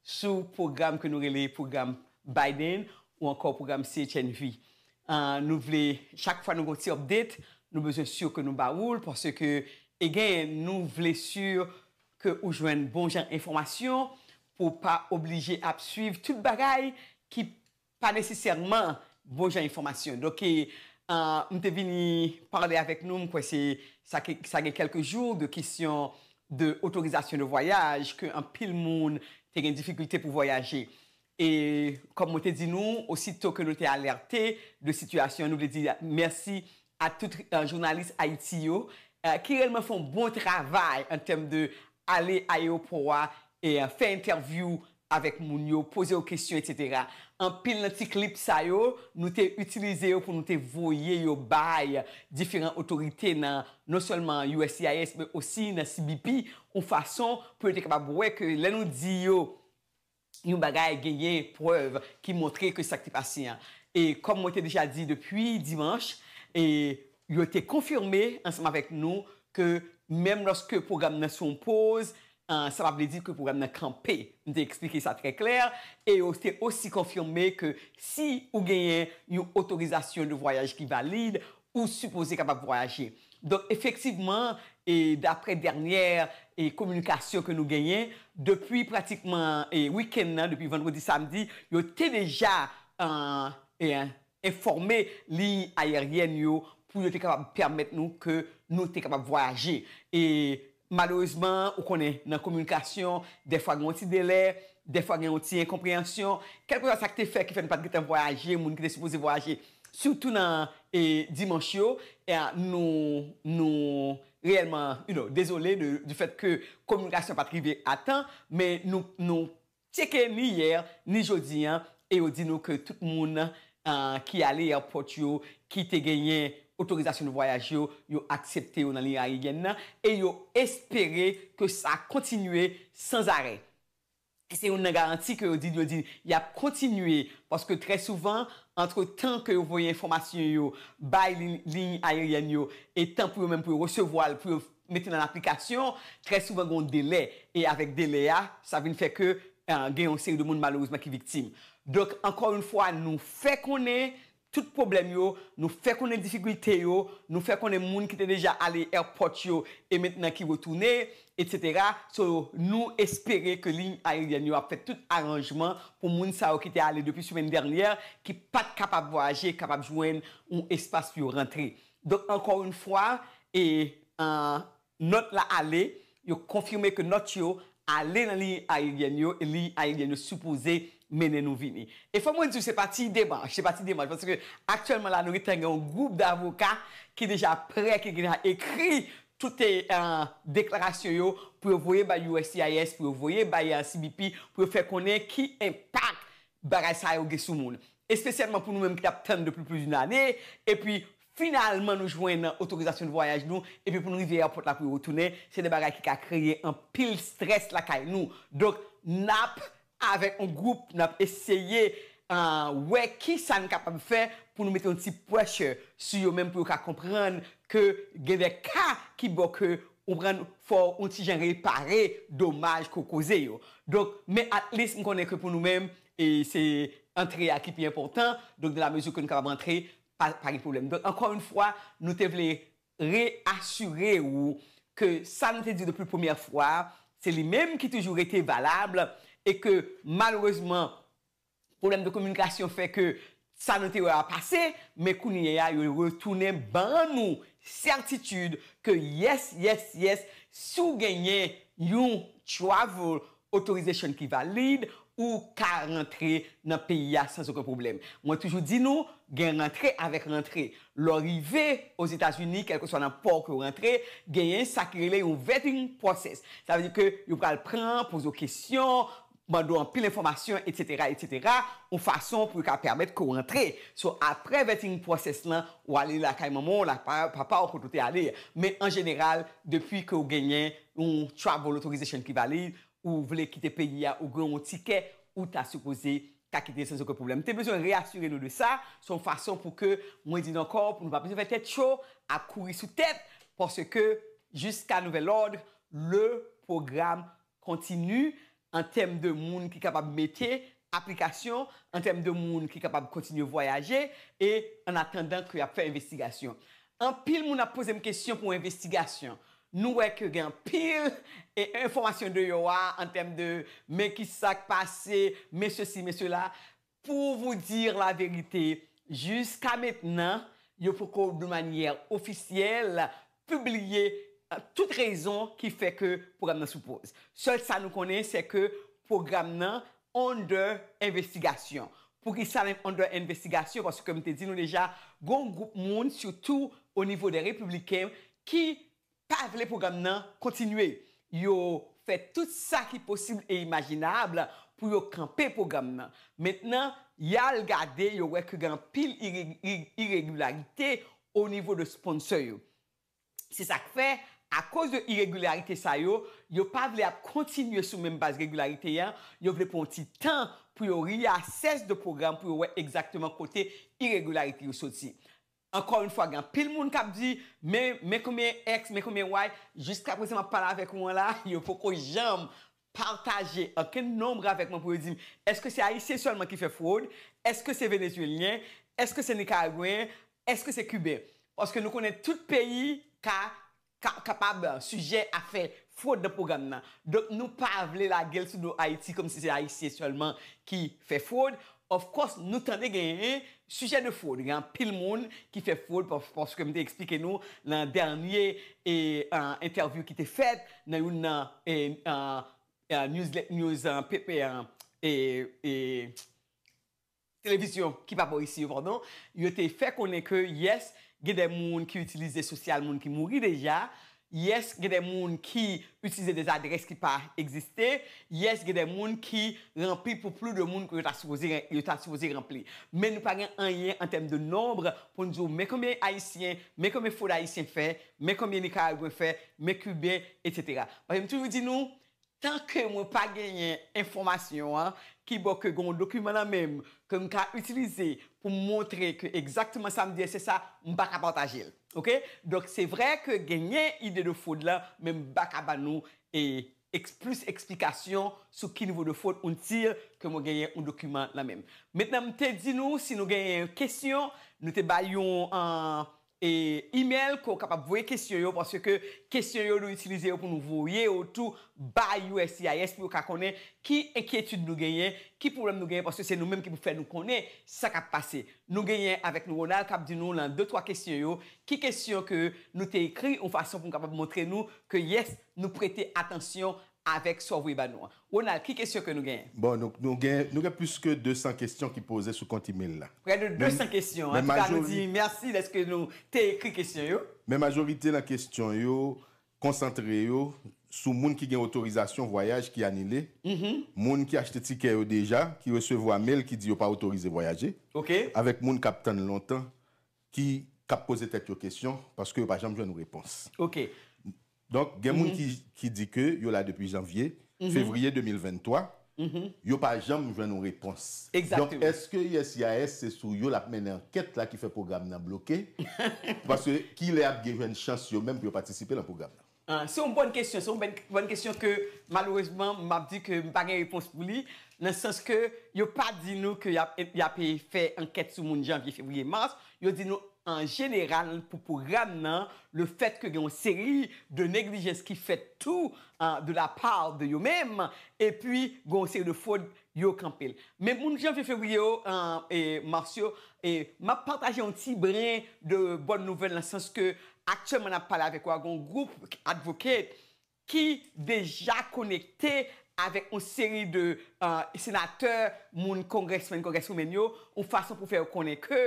sou pwogram ke nou rele pwogram Biden ou ankò pwogram CHNV an nou vle chak fwa nou gen yon ti update nou bezwen sur ke nou ba oul paske e gen nou vle sur ke ou jwenn bon jan enfòmasyon pou pa oblije ap swiv tout bagay ki pa nesesèman bon jan enfòmasyon. Donk, m te vini pale avèk nou, m kwè se sa gen kèlke jou, de kesyon de otorizasyon de vwayaj, ke anpil moun te gen difikilte pou vwayaje. E kòm mwen te di nou, osito ke nou te alète de sitiyasyon, nou vle di mèsi ak tout jounalis Haïti yo ki rèlman fè yon bon travay an tèm de ale ayewopò a fè entèvyou avèk moun yo poze yo kesyon etc anpil nan ti klip sa yo nou te itilize yo pou nou te voye yo bay diferan otorite nan non sèlman uscis men osi nan CBP yon fason pou yo te kapab wè ke lè nou di yo yon bagay genyen prèv ki montre ke sa ki te pase an. E kòm mwen te deja di depi dimanch, e yo te konfime ansanm avèk nou ke menm lòske pwogram nan sou yon poz, sa pa vle di ke pwogram nan kanpe. M te eksplike sa trè klè. E yo te osi konfime ke si ou genyen yon otorizasyon de vwayaj ki valid, ou sipoze kapab vwayaje. Donk efektivman e daprè dènyè e kominikasyon ke nou genyen, depi pratikman e wikenn nan, depi vandredi samdi, yo te deja an e enfòme liy ayeryèn yo pou yo te kapab pèmèt nou ke nou te kapab vwayaje. E Malerezman, ou konnen, nan kominikasyon, dèfwa gen yon ti delè, dèfwa gen yon ti enkonpreyansyon. Kèlkeswa sa k te fè ki fè nou pa t gen tan vwayaje, moun ki te sipoze vwayaje, sitou nan dimanch yo, nou, nou reyèlman, you know, dezole de, di fèt ke kominikasyon pa t rive a tan, men nou, nou Tcheke ni yè ni jodi an e yo di nou ke tout moun ki ale èpòt yo ki te genyen otorizasyon de vwayaj yo, yo aksepte yo nan liy aeryèn nan e yo espere ke sa kontinye sanzarè. E se youn nan garanti ke yo di, yo di y ap kontinye paske trè souvan antre tan ke yo voye enfòmasyon yo bay liy aeryèn yo e tan pou yo menm pou yo resevwa l, pou yo. mete nan aplikasyon, trè souvan gen yon delè e avèk delè a sa vin fè ke gen yon seri de moun malerezman ki viktim. Donk ankò yon fwa nou fè konnen tout pwoblèm yo, nou fè konnen difikilte yo, nou fè konnen moun ki te deja ale èpòt yo e mentnan ki retounen etc. So nou espere ke liy ayeryèn yo ap fè tout aranjman pou moun sa yo ki te ale depi semèn dènyè ki pat kapab vwayaje kapab jwenn yon espas pou yo rantre. Donk ankò yn fwa e nòt la ale, yo konfime ke nòt yo ale nan liy ayeryèn yo e liy ayeryèn yo sipoze mennen nou vini. E fò mwen di w se pa ti demach, se pa ti demach paske aktyèlman la nou gentan gen yon gwoup davoka ki deja prè ki deja ekri tout deklarasyon yo pou yo voye bay uscis, pou yo voye bay cbp pou yo fè konnen ki enpak Bagay sa yo gen sou moun. Espesyalman pou nou menm ki tap tann depi plis d'une ane, epi finalman nou jwenn otorizasyon de vwayaj nou, epi pou nou rive èpòt la pou yo retounen, se de bagay ki ka kreye anpil strès lakay nou. Donk nap avèk yon gwoup nap eseye wè kisa n kapab fè pou nou mete yon ti pressure sou yo menm pou yo ka konprann ke gen de ka ki bon ke Ou pran fò on ti jan repare domaj ke w koze yo. Donk, men at least m konnen ke pou nou menm e se antre a ki pi enpòtan, donk de la mezi ke nou kapab antre pa pa gen pwoblèm. Donk ankò yon fwa nou te vle re asire ou ke sa nou te di w depi premyè fwa a se li menm ki toujou rete valab e ke malerezman Pwoblèm de kominikasyon fè ke sa nou te wè a pase, men kounye a yo retounen ban nou sètitid ke yes, yes, yes, si w genyen yon travel authorization ki valid, ou ka rantre nan peyi a san oken pwoblèm. Mwen toujou di nou, gen rantre avèk rantre. Lè w rive Ozetazini, kèlkeswa nan pò ke w rantre, genyen sa ki rele yon vetting process. Sa vle di ke yo pral pran, poze w kesyon, Mande w anpil enfòmasyon etc etc yon fason pou yo ka pèmèt ke w rantre so aprè vetting process lan ou ale lakay manman w lakay papa w kote w te ale a men an jeneral depi ke w genyen yon travel authorization ki valid ou vle kite peyi a ou gen yon tikè ou ta sipoze ka kite san oken pwoblèm m te bezwen reasire nou de sa se yon fason pou ke mwen di nou ankò pou nou pa bezwen fè tèt cho ap kouri sou tèt paske jiska nouvèl òd le pwogram Kontinu, an tèm de moun ki kapab mete, aplikasyon, an tèm de moun ki kapab kontinye vwayaje, e an atandan ke y ap fè envestigasyon. Anpil moun ap poze m kesyon pou envestigasyon. Nou wè ke gen anpil e enfòmasyon deyò a an tèm de men ki sa k pase, men sesi, men sela. Pou vous dire la vérité, jiska mentnan, yo poko de manyè ofisyèl pibliye tout rezon ki fè ke pwogram nan sou poz. Sèl sa nou konnen sè ke pwogram nan under envestigasyon. Poukisa li under envestigasyon? Paske m te di nou deja, gon gwoup moun sitou onivo dè repibliken ki pa vle pwogram nan kontinye. Yo fè tout sa ki posib e imajinab pou yo kanpe pwogram nan. Mentnan, y al gade, yo wè ke gen anpil iregilarite o nivo de sponsor yo. Se sa k fè, akoz de iregilarite sa yo, yo pa vle ap kontinye sou menm baz regilarite an, yo vle pran yon ti tan pou yo reassess de pwogram pou yo wè egzakteman kote iregilarite yo soti. Ankò yn fwa gen anpil moun kap di men men konbyen ex men konbyen way jiska prezan map pale avèk ou an la yo poko janm pataje okenn nombre avèk mwen pou yo dim eske se ayisyen sèlman ki fè fwod eske se venezuelyen eske se nikaragwen eske se kiben paske nou konnen tout peyi ka ka kapab sijè a fè fwod nan pwogram nan. Donk nou pa vle lage l sou do Ayiti kòm si se Ayisyen sèlman ki fè fwod. Of course nou tande genyen sijè de fwod, gen anpil moun ki fè fwod paske m te eksplike nou nan dènye entèvyou ki te fèt nan youn nan news Televizyon ki pa bò isi yo padon, yo te fè konnen ke yes gen de moun ki itilize sosyal moun ki mouri deja, yes gen de moun ki itilize des adrès ki pa egziste, yes gen de moun ki ranpli pou plu de moun ke yo ta sipoze yo ta sipoze ranpli. Men nou pa gen anyen an tèm de nonb pou n di w men konbyen ayisyen, men konbyen fwod ayisyen fè, men konbyen nikaragwen fè, men kiben etc. Paske m toujou di nou Tan ke mwen pa genyen enfòmasyon an, kibò ke gen yon dokiman nan menm ke m ka itilize pou m montre ke egzakteman sa m di a se sa, m pa ka pataje l. Ok? Donk se vre ke genyen ide de fwod la, men m pa ka ban nou plis eksplikasyon sou ki nivo de fwod until ke mwen genyen yon dokiman nan menm. Mentnan m te di nou si nou genyen kesyon, nou te bay yon E email ke w kapab voye kesyon yo paske ke kesyon yo nou itilize yo pou nou voye yo tou bay uscis pou yo ka konnen ki enkyetid nou genyen, ki pwoblèm nou genyen paske se nou menm ki pou fè nou konnen sa k ap pase. Nou genyen avèk nou Ronald k ap di nou lan de twa kesyon yo ki kesyon ke nou te ekri yon fason pou nou kapab montre nou ke yes nou prete atansyon Avèk sa w voye ba nou an. Ronald, ki kesyon ke nou genyen? Bon, nou gen, nou gen plis ke 200 kesyon ki poze sou kont email la. Prè de 200 kesyon. An tou ka nou di mèsi dèske nou te ekri kesyon yo. Men majorite nan kesyon yo konsantre yo sou moun ki gen otorizasyon vwayaj ki anile, moun ki achte tikè yo deja, ki resevwa mail ki di yo pa otorize vwayaje, avèk moun k ap tann lontan ki k ap poze tèt yo kesyon paske yo pa janm jwenn repons. Donk gen moun ki di ke yo la depi janvye, fevriye 2023, yo pa janm jwenn yon repons. Donk eske uscis se sou yo lap mennen ankèt la ki fè pwogram nan bloke? Paske kilè yap gen jwenn chans yo menm pou yo patisipe nan pwogram nan? Se yon bòn kesyon, se yon bòn kesyon ke malerezman map di ke m pa gen repons pou li, nan sans ke yo pa di nou ke yap fè ankèt sou moun janvye, fevriye, mars, Yo di nou an jeneral pou pwogram nan, le fèt ke gen yon seri de neglijans ki fèt tou de la part de yo menm, epi gen yon seri de fwod yo kanpe l. Men moun janvye, fevriye yo, e mars yo, e m ap pataje yon ti brin de bòn nouvèl nan sans ke aktyèlman n ap pale avèk ou a gen yon gwoup advocate ki deja konekte avèk yon seri de senatè, moun congressmen, congresswomen yo, yon fason pou fè yo konnen ke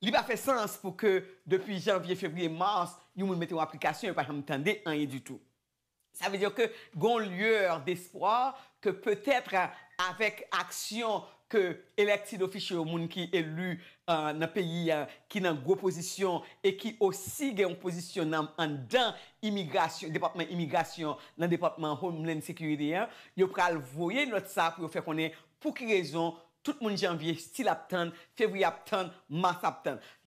li pa fè sans pou ke depi janvye, fevriye, mars, yon moun mete yon aplikasyon, yo pa janm tande anyen ditou. Sa vle di ke gen yon lueur d'espoir ke peut-etre avèk aksyon ke elected official yo, moun ki eli nan peyi an, ki nan gwo pozisyon e ki osi gen yon pozisyon nan anndan imigrasyon, depatman imigrasyon nan depatman Homeland Security an, yo pral voye nòt sa pou yo fè konnen pou ki rezon tout moun Janvye still ap tann, Fevriye ap tann, Mas ap tann.